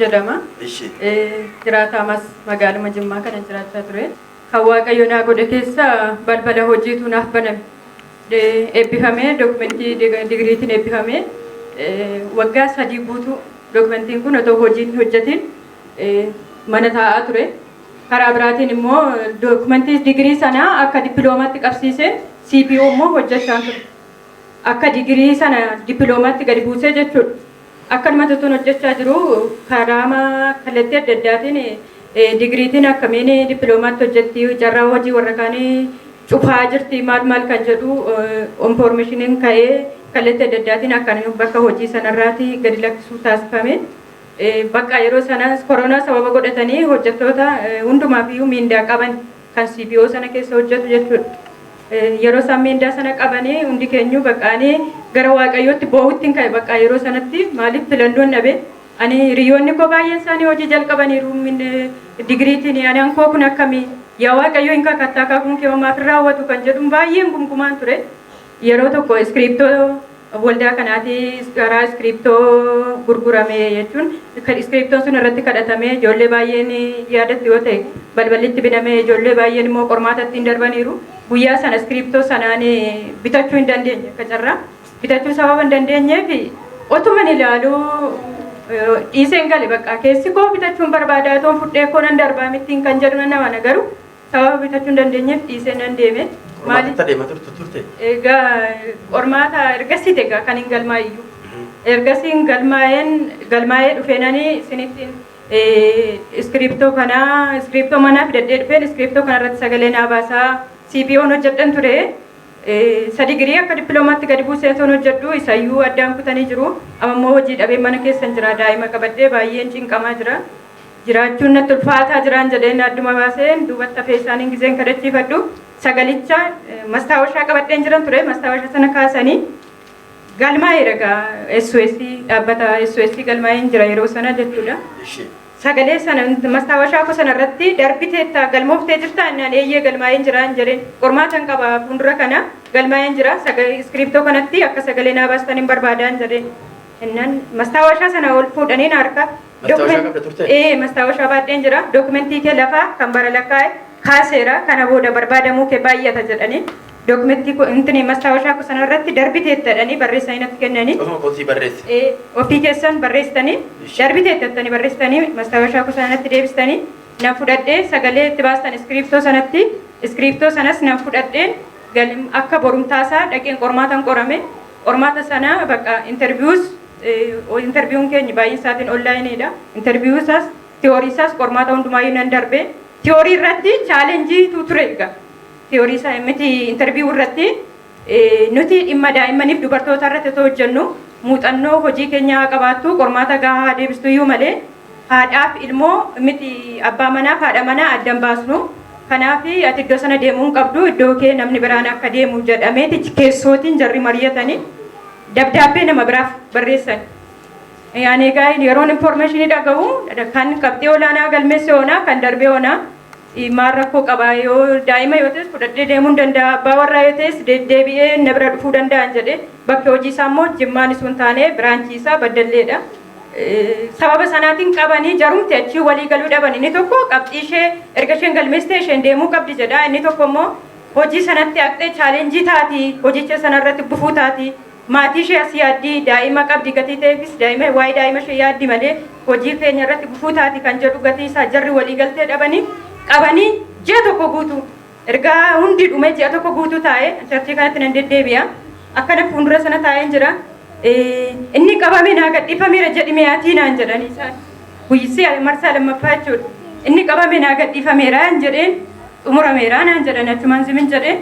jedhama. Ishi. Jiraataa mas magaaluma Jimmaa kanan jiraachaa ture. Kan Waaqayyo naa godhe keessa balbala hojiitu naaf baname. Eh, Eebbifamee dokumentii dig- digiriitiin eebbifamee eh, waggaa sadii guutuu dokumentiin kun otoo hojiin hin hojjetiin eh, mana taa'aa ture. Karaa biraatiin immoo dokumentii digirii sana akka dippiloomaatti qabsiisee CPO immoo hojjechaan ture. Akka digirii sana dippiloomaatti gadi buusee jechuudha. Akkanumatti utuun hojjechaa jiruu karaama kallattii adda addaatiin digiriitiin akkamiin dippiloomaatti hojjetti, carraa hojii warra kaanii cufaa jirti maal maal kan jedhu infoormeeshiniin ka'ee kallattii adda addaatiin akkan bakka hojii sanarraati gadi lakkisuu taasifame. Bakka yeroo sanas koronaa sababa godhatanii hojjettoota hundumaaf iyyuu miindaa qaban kan CBO sana keessa hojjetu jechuudha. Yeroo isaan meendaa sana qabanii hundi keenyuu bakka ani gara waaqayyootti boo'utti hin ka'e bakka yeroo sanatti maaliif filannoon dhabe ani hiriyoonni koo baay'een isaanii hojii jalqabaniiru digiriitiin ani ankoo kun akkamii yaa waaqayyo hin kakattaa kakuun kee homaaf hin raawwatu kan jedhuun baay'een gumgumaan ture. Yeroo tokko iskiriiptoo waldaa kanaatii garaa iskiriiptoo gurgurame jechuun iskiriiptoon sun irratti kadhatamee ijoollee baay'een yaadattu yoo ta'e balballi itti binamee ijoollee baay'een immoo qormaata ittiin darbaniiru guyyaa sana iskiriiptoo sanaan bitachuu hin dandeenye akka carraa bitachuu sababa hin dandeenyeef otuman ilaaluu dhiiseen gale baqqaa keessi koo bitachuun barbaadaa toon fudhee koo nan darbaa mittiin kan jedhu nan amana garuu Sababa bitachuu hin dandeenyeef dhiisee nan deeme. Qormaata Maaliif? itti adeema turtu turte? Egaa qormaata ergasii egaa kan hin galmaa'e iyyuu. Ergasiin galmaa'een galmaa'ee dhufeenani sinittiin iskiriiptoo kana iskiriiptoo manaa fidadhee dhufeen iskiriiptoo kana irratti sagalee naa baasaa CPO'n hojjedhan ture. Isa digirii akka dippiloomaatti gadi buuseen son hojjedhu isa iyyuu addaan kutanii jiru. Amma immoo hojii dhabeen mana keessan jira daa'ima qabadhee baay'een cinqamaa jira. Jiraachuun natti ulfaataa jiraan jedheen adduma baaseen duubatti hafee isaaniin gizeen kadachiifadhu sagalicha mastaawashaa qabadheen jiran ture mastaawasha sana kaasanii galmaa'eera gaa SOS dhaabbata SOS galmaa'een jira yeroo sana jechuudha. Ishee. Sagalee sana mastaawashaa koo sana irratti darbiteetta galmooftee jirtaa innaan eeyyee galmaa'een jira hin jedheen qormaatan qaba fuuldura kana galmaa'een jira sagalee iskiriiptoo kanatti akka sagalee naa baastan hin barbaadaan jedheen innaan mastaawashaa sana ol fuudhanii na harka Mastaawashaa qabda turte? Ee mastaawashaa baadheen jira. Dookumentii kee lafaa kan bara lakkaa'e kaaseera. Kana booda barbaadamuu kee baay'ata jedhanii dookumentii intini mastaawashaa koo sana irratti darbiteetta jedhanii barreessanii natti kennanii. Ofuma kootii barreesse. Ee ofii keessan barreessitanii darbiteetta jettanii barreessitanii mastaawashaa koo sana natti deebistanii nan fudhadhee sagalee itti baastan iskiriiptoo sanatti iskiriiptoo sanas nan fudhadheen akka borumtaasaa dhaqeen qormaatan qorame Qormaata sana bakka interviews interview'n keenya baay'een isaatiin online dha. Interview isaas theory isaas qormaata hundumaayyuu nan darbe. Theory irratti challenge tu ture egaa. Theory isaa miti interview irratti nuti dhimma daa'immaniif dubartoota irratti otoo hojjennu muuxannoo hojii keenyaa haa qabaattu qormaata gahaa haa deebistu iyyuu malee Haadhaaf ilmoo miti abbaa manaaf haadha manaa adda hin baasnu. Kanaaf ati iddoo sana deemuu hin qabdu iddoo kee namni biraan akka deemu jedhameeti keessootiin jarri mari'atanii dabdaabbee nama biraaf barreessan. Yaanee Gaa'il yeroon information dhaga'u kan qabxii olaanaa galmeesse onaa kan darbee onaa maal rakkoo qabaa yoo daa'ima yoo ta'es fudhadhee deemuu hin danda'a abbaa warraa yoo ta'es deddeebi'ee na bira dhufuu danda'an jedhee bakki hojii isaa immoo jimmaan isun taanee biraanchii isaa baddalleedha. sababa sanaatiin qabanii jarumti achii walii galuu dhaban inni tokko qabxii ishee erga isheen galmeessitee isheen deemuu qabdi jedha inni tokko immoo hojii sanatti haqxee chaalenjii taati hojicha sanarratti gufuu taati maatii ishee as yaaddi daa'ima qabdi gatii ta'eefis daa'ima waa'ee daa'ima ishee yaaddi malee hojii keenya irratti gufuu taati kan jedhu gatii isaa jarri walii galtee dhabanii qabanii ji'a tokko guutuu Erga hundi dhumee ji'a tokko guutuu taa'ee charchii kanatti nan deddeebi'a. Akkana fuundura sana taa'een jira. Inni qabame naa gadhiifameera jedhime atii naan jedhani isaan. Guyyissi marsaa lammaffaa jechuudha. Inni qabame naa gadhiifameera hin jedheen xumurameera naan jedhani achumaan zimin jedhee.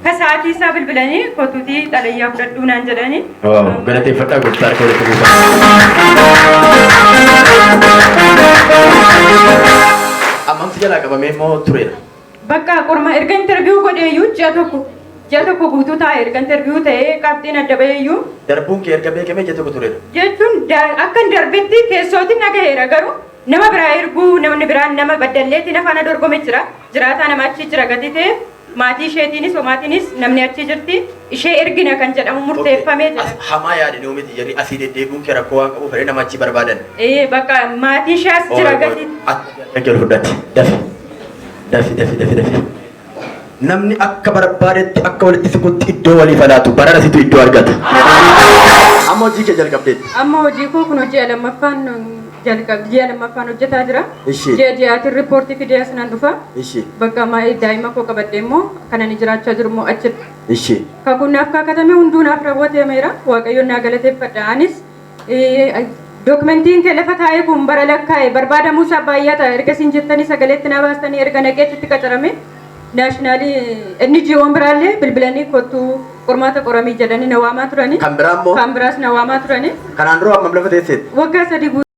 Ka sa'aatii isaa bilbilanii kotuutii xalayyaa fudhadhuu naan jedhani. Galateeffadhaa gooftaa harka walitti buusaa. Ammamsi jalaa qabamee immoo tureera. Baqqaa qorma erga interview godheeyyuu ji'a tokko ji'a tokko guutuu taa'e erga interview ta'ee qabxiin adda ba'eeyyuu. Darbuun kee erga beekamee ji'a tokko tureera. jechuun akkan darbetti keessootin dhagaheera garuu nama biraa erguu namni biraan nama Baddalleetii na faana dorgome jira jiraataa nama achii jira gatii ta'eef maatii isheetiinis homaatiinis namni achii jirti. ishee ergina kan jedhamu murteeffame Okay. As, jedhan. hamaa yaadanii omiti jarri asii deddeebi'uun kee rakkoo waan qabuuf jedhee nama achii barbaadan. Ee, Bakka maatii ishee as jira gadi. Akka jiru fudhate. Dafi. Dafi, dafi, dafi, dafi. Namni akka barbaadetti akka walitti siqutti iddoo walii falaatu barana situ iddoo argata. Amma hojii kee jalqabdeetti. Amma hojii koo kun hojii lammaffaan jalqabdi ji'a lammaffaan hojjetaa jira. Ishi. Ji'a ji'aatiin riippoortii fidee as nan dhufa. Ishi. Bakka amma daa'ima koo qabadhee immoo kan ani jiraachaa jiru immoo achidha. Ishi. Kakuun naaf kaakatame hunduu naaf raawwatameera. Waaqayyoon naa galateeffadha. Anis eh, dookimentiin kee lafa taa'ee kun bara lakkaa'e barbaadamuu isaa baay'ata erga isin jettanii sagaleetti naa baastanii erga naqee achitti qacarame. naashinaal NGO'n biraallee bilbilanii kottuu qormaata qoramii jedhanii na waamaa turanii. Kan biraa immoo? Kan biraas na waamaa turanii. Kanaan dura hammam lafa teesseet? Waggaa sadii guutuu.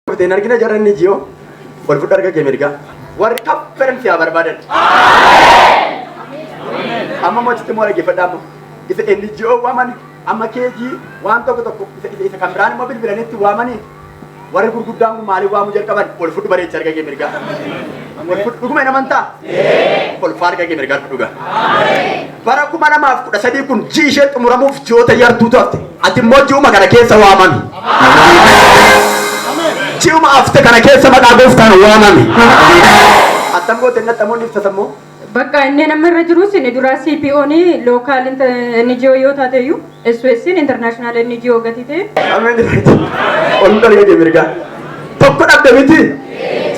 Kutee hin argina jarran ni jiyoo. Ol fudhu harka kee mirgaa. Warri kaffaran siyaa barbaadan. Amma mootitti immoo dhaggeeffadha amma. Isa inni jiyoo waamani. Amma keejii waan tokko tokko isa isa isa kan biraan immoo bilbilanitti waamani. Warri gurguddaan kun maaliif waamuu jalqaban? Ol fudhu bareechi harka kee mirgaa. Ol fudhu dhuguma hin amantaa? Ol fudhu harka kee mirgaa dhugaa. Bara kuma lamaaf kudha sadii kun ji'i ishee xumuramuuf ji'oota yartuutu hafte. Ati immoo ji'uma kana keessa waamami. Ji'uma hafte kana keessa maqaa gooftaan waamami. Attam goote inni attam inni ibsata immoo? Bakka inni amma irra jirus inni duraa CPO ni local inter- NGO yoo taate iyyuu SOS international NGO gati ta'e Ameen. Ol darga jee mirgaa. Tokko dhabde miti?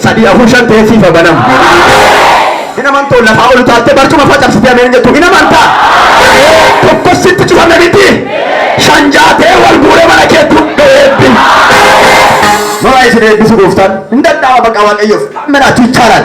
Sadii afur shan ta'ee siifa banama. Hin amantoo lafaa ol utaaltee barcuma facabsitee ameen jettu hin amantaa? Tokkos sitti cufame miti? Shan ja'a ta'ee wal guuree mana keetti hundoo eebbi. Mara isin eebbisu gooftaan hin danda'ama baqa waaqayyoof. Ameen achi ichaaraan.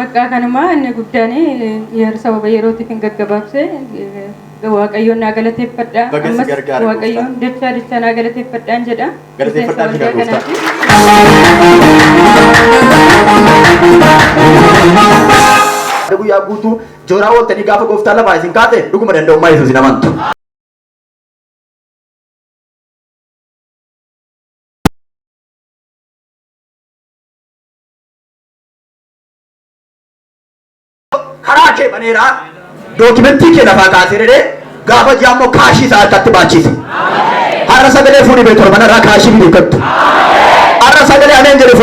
Baqqaa kanuma inni guddaan yeer sababa yerootiifin gaggabaabse Waaqayyoon naa galateeffadha. Baga si Ammas gargaare Gooftaan. Waaqayyoon dachaa dachaa naa galateeffadhaan jedha. Galateeffadhaa Miseensa jira waldaa Gooftaan. kanaatiif. Har'a guyyaa guutuu jooraa ooltanii gaafa gooftaan lafaa isin kaase dhuguma danda'ummaa Yesuus hin amantu. karaa kee baneera dookimentii kee lafaa kaasee dhedhee gaafa ji'a ammoo kaashii isaa harkatti baachiise. Har'a sagalee fuudhii bee torban irraa kaashii fidee gattu. Har'a sagalee ameen jedhe